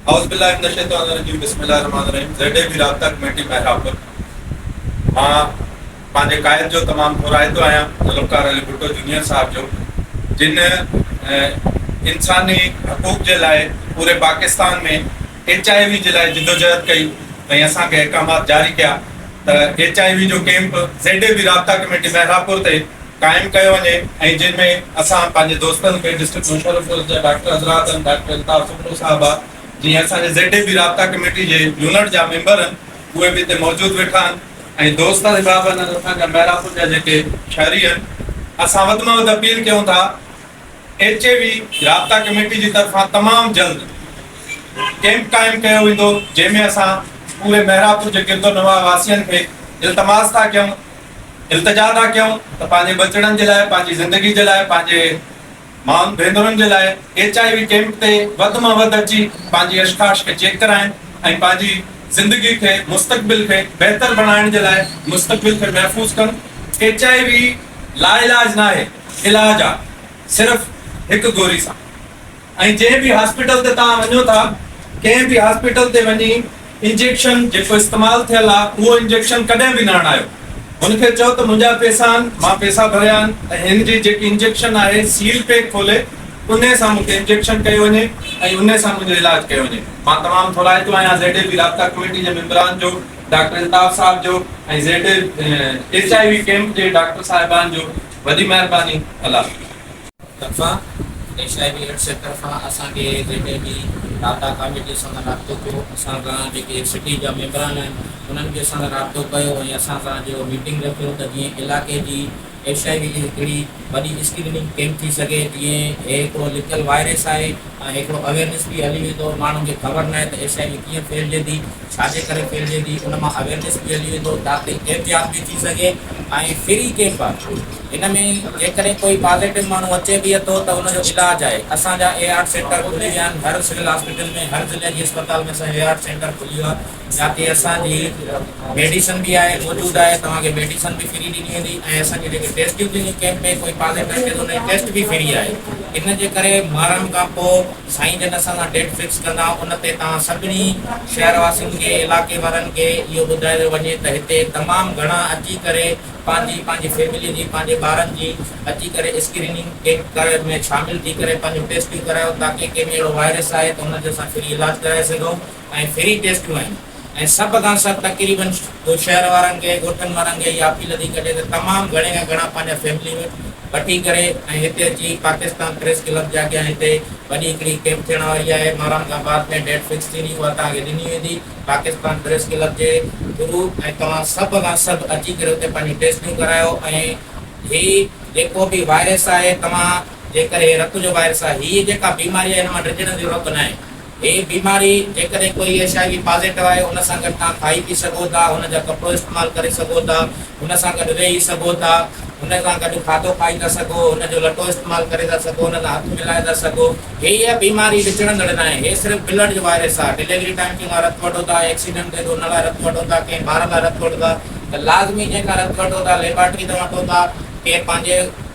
اعوذ باللہ من الشیطان الرجیم بسم الله الرحمن الرحيم زيڊ اي بي رابطه ڪميٽي مهراپور مان پنهنجي قائد جو تمام ٿورائتو آهيان ذوالفقار علي ڀٽو جونيئر صاحب جو جن انساني حقوق جي لاء پوري پاڪستان ۾ ايچ آء وي جي لاء جدوجهد ڪئي ۽ اسان کي احڪامات جاري ڪيا ته ايچ آء وي جو ڪيمپ زيڊ اي بي رابطا ڪميٽي محرابپور تي قائم ڪيو وڃي ۽ جن ۾ اسان پنهنجي دوستن کي ڊسٽرڪٽ مشرف پور جا ڊاڪٽر حضرات هن ڊاڪٽر الطاف سومرو صاحب آ جي اسان جي زيڊ اي بي رابطا ڪميٽي جي يونٽ جا ميمبر هن اهي به هتي موجود ويٺا هن ۽ دوست صاحب هن اسان جا محرابپور جا جيڪي شهري هن اسان وڌ مان وڌ اپيل ڪيون ٿا ايڇ اي وي رابطا ڪميٽي جي طرفان تمام جلد ڪيمپ قائم ڪيو ويندو جنهن ۾ اسان پوري مهراپور جي گردونواح واسين کي التماس ٿا ڪيون التجا ٿا ڪيون ته پنهنجي ٻچڙن جي لاء پنهنجي زندگي جي لاء پنهنجي مائن ڀينرن جي لاء ايڇ آء وي ڪيمپ تي وڌ مان وڌ اچي پنهنجي اشخاش کي چيڪ ڪرائن ۽ پنهنجي زندگي کي مستقبل کي بهتر بڻائڻ جي لاء مستقبل کي محفوظ ڪن ايڇ آء وي لاعلاج ناهي. علاج آ صرف هڪ گوري سان ۽ جنهن به هاسپيٽل تي توهان وڃو ٿا ڪنهن به هاسپيٽل تي وڃي انجيڪشن جيڪو استعمال ٿيل آ اهو انجيڪشن ڪڏهن به نه هڻايو هن کي چئو ته منهنجا پيسا آهن مان پيسا ڀريا آهن ۽ هن جي جيڪي انجيڪشن آهي سيل پيڪ کولي انهي سان مون کي انجيڪشن ڪيو وڃي ۽ انهي سان منهنجو علاج ڪيو وڃي مان تمام ٿورائتو آهيان زيڊ اي بي رابطا ڪميٽي جي ميمبران جو ڊاڪٽر الطاف صاحب جو ۽ Z H I V camp جي ڊاڪٽر صاحبان جو وڏي مهرباني الله. طرفان H I V AIDS centre کان اسان کي جيڪي به داتا ڪاميٽي سان رابطو ٿيو اسان سان جيڪي سٽي جا ميمبران آهن انهن به اسان سان رابطو ڪيو ۽ اسان سان جو ميٽنگ رکيو ته جيئن علائقي جي ايڇ آء وي جي هڪڙي وڏي اسڪريننگ ڪيمپ ٿي سگهي جيئن هي هڪڙو لڪل وائرس آهي ۽ هڪڙو اويرنس به هلي ويندو ماڻهن کي خبر ناهي ته ايڇ آء وي ڪيئن ڦهلجي ٿي ڇاجي ڪري ڦهلجي ٿي ان مان اويرنس به هلي ويندو جاتي احتياط به ٿي سگهي ۽ فري ڪيمپ آهي هن ۾ جيڪڏهن ڪوئي پازيٽو ماڻهو اچي به اٿو ته ان جو علاج آهي اسان جا ايارٽ سينٽر کلي ويا آهن هر سول هاسپيٽل ۾ هر ضلعي جي اسپتال ۾ اسان جو ايارٽ سينٽر کلي ويو آهي جاتي اسان جي ميڊيسن به آهي موجود آهي توهان کي ميڊيسن به فري ڏني ويندي ۽ اسان جي جيڪي ٽيسٽيون ٿينديون ڪيمپ ۾ ڪوئي پالي ۾ اچي ٿو انهي ٽيسٽ به فري آهي ان جي ڪري مرڻ کان پو سائين جن اسان سان ڊيٽ فڪس ڪندا ان تي توهان سڀني شهر واسين کي علاقي وارن کي اهو ٻڌايو وڃي ته هتي تمام گهڻا اچي ڪري پنهنجي پنهنجي فيملي جي پنهنجي ٻارن جي اچي ڪري اسڪريننگ ڪيمپ ڪري ۾ شامل ٿي ڪري پنهنجو ٽيسٽيون ڪرايو تاڪي ڪنهن ۾ اهڙو وائرس آهي ته ان جو اسان فري علاج ڪرائي سگهون. ۽ فري ٽيسٽون آهن ۽ سڀ کان سر تقريباً ڪو شهر وارن کي ڳوٺن وارن کي اها اپيل ٿي ڪجي ته تمام گهڻي کان گهڻا پنهنجا فيملي ميمبر وٺي ڪري ۽ هتي اچي پاڪستان پريس ڪلب جي اڳيان هتي وڏي هڪڙي ڪيمپ ٿيڻ واري آهي مهران کان بعد ۾ ڊيٽ فڪس ٿيندي اها توهان کي ڏني ويندي پاڪستان پريس ڪلب جي ٿرو ۽ توهان سڀ کان سڀ اچي ڪري اتي پنهنجون ٽيسٽون ڪرايو ۽ هي جيڪو به وائرس آهي توهان جي ڪري هي رت جو وائرس آهي هي جيڪا بيماري آهي هن مان ڊڄڻ جو رت ناهي هي بيماري جيڪڏهن ڪوئي ايڇ آء وي پازيٽو آهي ان سان گڏ توهان کائي پي سگهو ٿا هن جا ڪپڙو استعمال ڪري سگهو ٿا هن سان گڏ ويهي سگهو ٿا هن سان گڏ کاڌو کائي ٿا سگهو هن جو لٽو استعمال ڪري ٿا سگهو هن سان هٿ ملائي ٿا سگهو. هيء بيماري وچڙندڙ ناهي هي صرف بلڊ جو وائرس آهي ڊليوري ٽائيم ڪنهن کان رت وٺو ٿا ايڪسيڊنٽ ٿئي ٿو ان لاء رت وٺو ٿا ڪنهن ٻار لاء رت وٺو ٿا ته لازمي جنهن کان رت وٺو ٿا ليبارٽري تان وٺو ٿا ڪنهن پنهنجي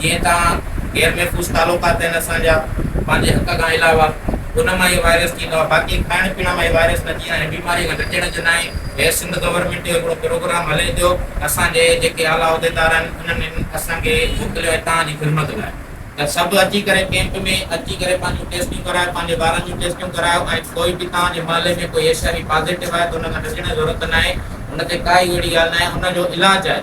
جيئن ته عام غير محفوظ تعلقات آهن اسان جا پنهنجي حق کان علاوه ان مان ئي وائرس ٿيندو آهي باقي کائڻ پيئڻ مان ئي وائرس نه ٿيندا آهن بيماري کان ڊڄڻ جو ناهي هي سنڌ گورنمينٽ جو هڪڙو پروگرام هلي پيو اسان جي جيڪي اعليٰ عهديدار آهن انهن اسان کي موڪليو آهي توهان جي خدمت لاء ته سڀ اچي ڪري ڪيمپ ۾ اچي ڪري پنهنجون ٽيسٽون ڪرايو پنهنجي ٻارن جون ٽيسٽون ڪرايو ۽ ڪوئي به توهان جي محلي ۾ ڪوئي ايش آء وي پازيٽو آهي ته ان کان ڊڄڻ جي ضرورت ناهي ان تي ڪا ئي اهڙي ڳالهه ناهي ان جو علاج آهي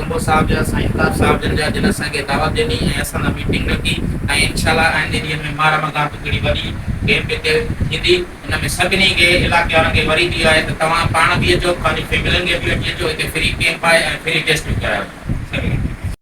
سمو صاحب جا سائين تاج صاحب جن جا جن اسان کي دعوت ڏني ۽ اسان سان ميٽنگ رکي ۽ انشاء الله آئنده ڏينهن ۾ ماهه رمضان تي ڪھڙي وڏي ڪيمپ ھتي ٿيندي ان ۾ سڀني کي علاقي وارن کي وري به اھو آھي ته توھان پاڻ به اچو پنھنجي فيملين کي به وٺي اچو ھتي فري ڪيمپ آھي ۽ فري ٽيسٽ به ڪرايو سگھي